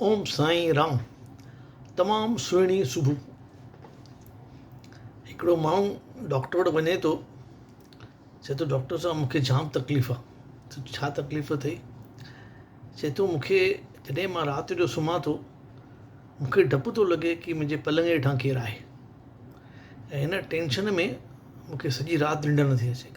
اوم سائين رام تمام سهڻي صبح هڪڙو ماڻهو ڊاڪٽر وٽ وڃي ٿو چي ٿو ڊاڪٽر صاحب مونکي جام تڪليف آ ڇا تڪليف اٿئي چي ٿو مونکي جڏهن مان رات جو سمهان ٿو مونکي ڊپ ٿو لڳي ڪي منهنجي پلنگ هيٺا ڪير آهي ۽ هن ٽينشن ۾ مونکي سڄي رات ننڊ نٿي اچي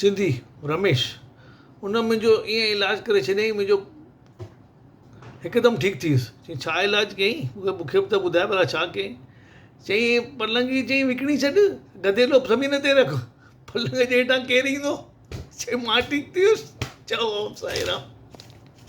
سنڌي، رميش، ان منهنجو ايئن علاج ڪري ڇڏيائين منهنجو هڪدم ٺيڪ ٿي ويس چيائين ڇا علاج ڪيائين مون کي به ٻڌاء ڀلا ڇا ڪيائين چيائين پلنگ جي چيائين وڪڻي ڇڏ گديلو زمين تي رک پلنگ جي هيٺان ڪير ايندو چيائين مان ٺيڪ ٿي ويس چئو اوم سائي رام